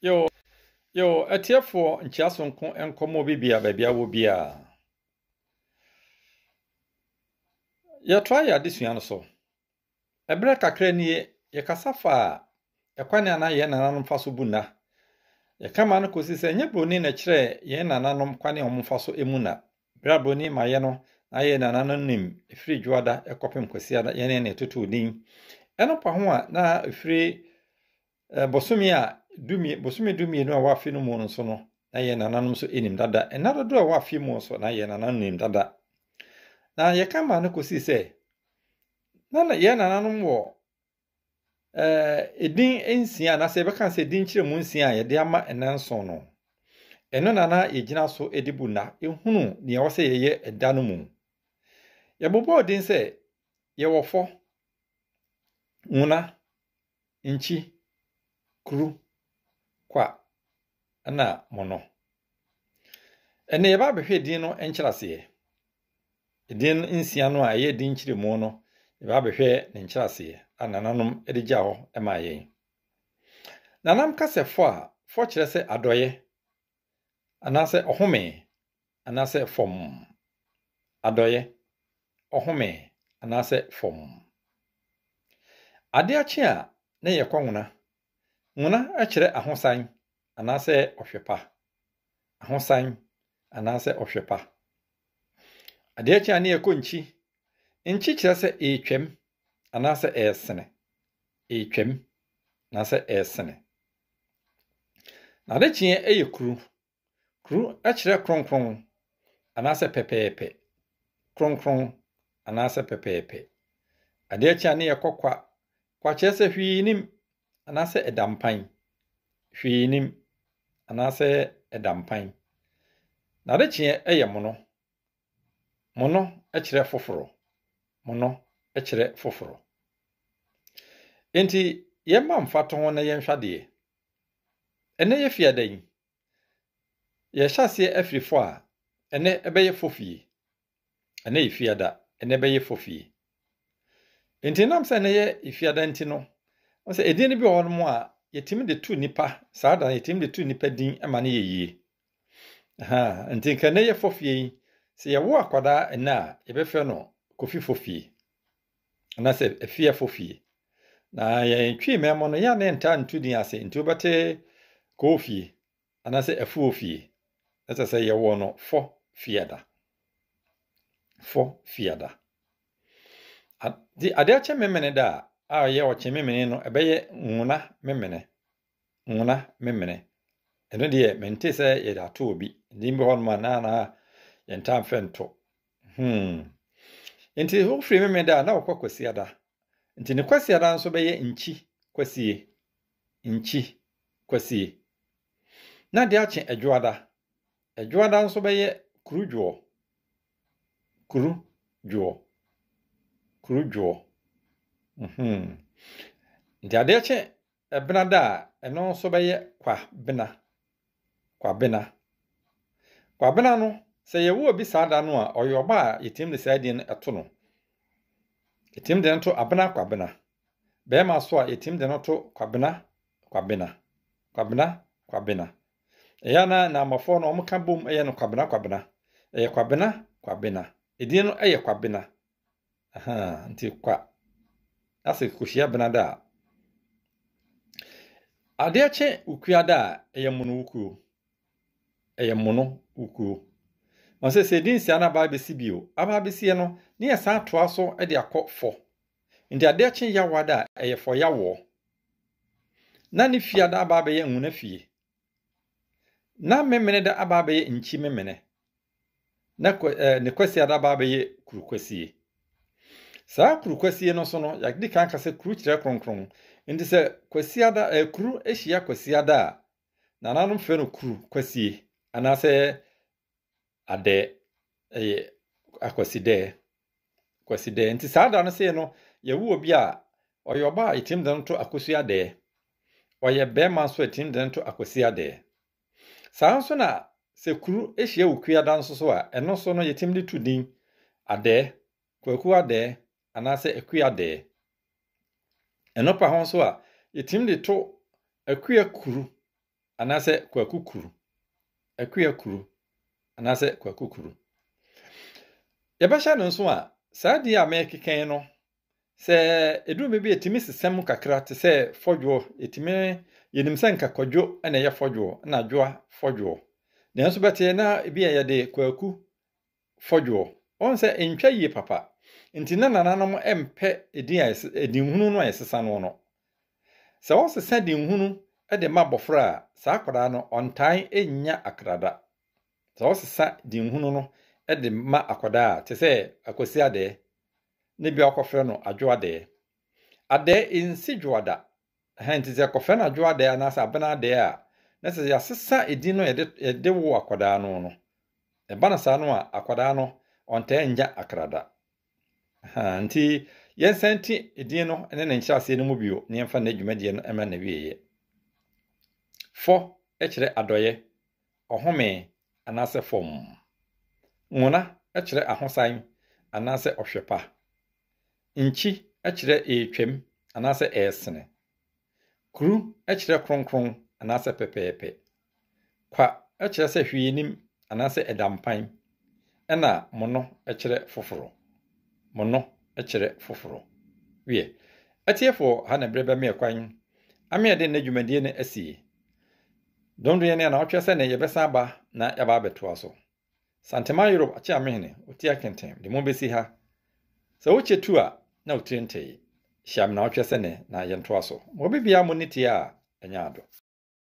Yo, yo, atiefoɔ nkyia sonko nkɔmmɔ bi bia baabi awɔ biara. Yɛtoa yɛ adesua no so. Ɛberɛ kakra nie, yɛkasa faa ɛkwan a na yɛn nananom fa so bu nna. Yɛka ma no kɔsi sɛ ɛnyɛ buroni na ɛkyerɛ yɛn nananom kwan a wɔfa so mu nna. Brɛbo ni ma yɛ no na yɛ nana no nim ɛfiri dwoada kɔpem kwasiada yɛne ne totoo din ɛno pa ho a na ɛfiri eh, bosome a dumie bosome dumienu a wɔafe no mu no so no na yɛ nananom nso nim dada ɛna dodoɔ a wɔafe mu nso na yɛ nananom nim dada na yɛka ma no kɔsii sɛ na yɛ nananom wɔ ɛdin nsia anaasɛ yɛbɛka sɛ ɛdin kyerɛ mu nsia a yɛde ama nna nson no ɛno na na yɛgyina so de bu nna ɛhunu deɛ ɛwɔ sɛ yɛyɛ ɛda no mu yɛbobɔɔ din sɛ yɛwɔ fɔ nwuna nkyi kuru kwa ɛna mono ɛnna yɛba abɛhwɛ din no nkyerɛaseɛ Edin nsia no a ɛyɛ din nkyerɛmu no, yɛbɛ abɛhwɛ ne nkyerɛaseɛ a nananom de gyaa hɔ maa yɛn. Nanam ka sɛ fɔ a, fɔ kyerɛ sɛ adɔeɛ, anaasɛ ɔhome, anaasɛ fam. Adɔeɛ, ɔhome, anaasɛ fam. Ade akye a, na ɛyɛ kɔnwena Mona kyerɛ ahosan anaasɛ ɔhwɛ pa. Ahosan anaasɛ ɔhwɛ pa. Adeɛ kye a ne yɛkɔ nkyi. Nkyi kyerɛ sɛ ɛretwam anaasɛ ɛresene. Ɛretwam anaasɛ ɛresene. N'adekyeɛ yɛ kuru. Kru kyerɛ kronkron anaasɛ pɛpɛɛpɛ, kronkron anaasɛ pɛpɛɛpɛ. Ade akyi a ne yɛ kɔ kwa, kwa kyerɛ sɛ hwee nim anaasɛ ɛda mpan, hwee nim anaasɛ ɛda mpan. N'adekyeɛ yɛ mono, Mono kyerɛ foforo. Mono kyerɛ foforo. Enti yɛmma mfatoho na yɛnhwɛ adeɛ. Ɛnɛ yɛ fiada yi, yɛhyɛ aseɛ afiri fɔ a, ɛnɛ ɛbɛyɛ fɔ fie. Ɛnɛ yɛ fiada, ɛnɛ ɛbɛyɛ fɔ fie. Enti nam sɛ ɛnɛ yɛ fiada nti no, sɛ edin no bi wɔ hɔ nom a, yɛtumi de tu nipa, saa da no yɛtumi de tu nipa din ma no yɛ yie. Aha, nti nka nnɛ yɛ fɔfie yi, sɛ yɛwo akwadaa nnɛ a, yɛbɛfrɛ no kofi fɔfie, anaasɛ afie fɔfie. Na yɛn twi mɛmɔ no, yɛa ne ntaa nto din ase, nti wobɛte kɔɔ fie, anaasɛ afuo fie. Ɛsɛ sɛ yɛwɔ no fɔ fiada. Fɔ fiada. Nti adeɛ akye memene da a, a ɔyɛ ɔkye memene no, ɛbɛyɛ nwona memene. Nwena Memene. Ɛno deɛ mentee sɛ yɛde ato obi. Din bi hɔnom a na na yɛntaa mfɛ nto. Hmm. Nti wofiri Memeda a na wokɔ Kwasiada. Nti ne Kwasiada nso bɛyɛ Nkyi Kwasie. Nkyi Kwasie. Na de akye Adwoada. Adwoada nso bɛyɛ Kurudwoɔ. Kurudwoɔ. Kurudwoɔ. Mhm. Nti adeɛ kye Ɛbenada a, ɛno nso bɛyɛ Kwabena. Kwabena. Kwabena no, sɛ yɛwo obi saa da no a, ɔyɛ ɔba a yɛtumi de saa din no to no. Yɛtumi de no to Abena Kwabena. Bɛrima so a, yɛtumi de no to Kwabena Kwabena. Kwabena Kwabena. Ɛyɛ na Naamafoɔ no wɔka bom yɛ no Kwabena Kwabena. Ɛyɛ Kwabena Kwabena. Edin no yɛ Kwabena. Ahaa, nti kwa. Ase kohyia benada a. Adeɛ kye wukuada a, ɛyɛ mono wukuo. Ɛyɛ mono wukuo. Ma sɛ sɛ ɛdi nsia no aba abɛsi bio. Aba abɛsie no, ne yɛ san toa so de akɔ fɔ. Nti adeɛ kye yawada a, ɛyɛ fɔ yawɔ. Na ne fiada aba abɛyɛ nwuna fie. Na Memeneda aba abɛyɛ Nkyi Memene, na eh, ne Kwasiada aba abɛyɛ Kuru Kwasie. Saa Kuru Kwasie no so no, yɛadi kan ka sɛ kuru kyerɛ kronkron. Nti sɛ Kwasiada, eh, kuru hyia Kwasiada a, nananom frɛ no Kuru Kwasie, anaasɛ Adɛ ɛyɛ akwasidɛ, kwasidɛ. Nti saa da no sei no, yɛwo obi a, ɔyɛ ɔba a yɛtim de no to akosi adɛ. Ɔyɛ bɛrima nso a yɛtim de no to akosi adɛ. Saa nso na sɛ kuru hyia wo kua da nso so a, ɛno nso no yɛtim de to din adɛ, kwaku adɛ, anaasɛ akua adɛ. Ɛno pa ho nso a, yɛtim de to akua kuru anaasɛ kwaku kuru, akua kuru anaasɛ kwaku kuru. Yɛbɛhyɛ no nso a, saa din a mɛkekɛn no, sɛ ɛduru baabi a ɛtumi sesɛm kakra te sɛ fɔdwoɔ, ɛtumi yɛnim sɛ nka kwadwo na ɛyɛ fɔdwoɔ na adwoa fɔdwoɔ. Nanso bɛteɛ na ebi a yɛde kwaku fɔdwoɔ. Ɔhu sɛ ntwa yie papa. Nti na nananom mpɛ edin a edinhunu no a yɛsesa noɔ no. Sɛ wɔsesa dinhunu de ma abɔfra a, saa akwadaa no ɔntae nnya akrada. Sɛ wɔsesa dinhunu no de ma akwadaa a, te sɛ Akwasi Adɛɛ, na ebia wɔkɔfrɛ no Adwo Adɛɛ. Adɛɛ nsi dwoa da, Ɛhɛn, ntsi sɛ yɛkɔfrɛ no Adwoadaa anaasɛ Abenadaa a, na sɛ yɛasesa dzin no a yɛde yɛde woo akwadaa no no. Ɛba no saa no a, akwadaa no ɔnntaa nnya akra da. Ahaa, ntsi yɛnsan ntsi dzin no ne ne nkyerɛasee no mu bio na yɛmfa nnɛ dwumadie no mma n'awieeɛ. Fɔ kyerɛ adɔeɛ, ɔhome, anaasɛ fam. Nwona kyerɛ ahosan anaasɛ ɔhwɛ pa. Nkyi kyerɛ ɛretwam anaasɛ ɛresene. Kru kyerɛ kronkron anaasɛ pɛpɛɛpɛ. Kwa kyerɛ sɛ hwee nnim anaasɛ ɛda mpan, ɛnna mono kyerɛ foforɔ. Mono kyerɛ foforɔ. Wiɛ, atiefoɔ ha na ɛberɛ bɛmeɛ kwan ama yɛde nnɛ dwumadie no asie. Dondonyɛ ne anaawɔtwe sɛ ne yɛbɛsan aba na yɛaba abɛtoa so. Santeman Yorob Akyeamehene otia kenten de mo besi ha. Sɛ wokye tu a na otiri ntee. Hyia me na ɔtwɛ sɛ nɛ na yɛntoa so. Mɔ bibia mo nne tie a ɛnyɛ ado.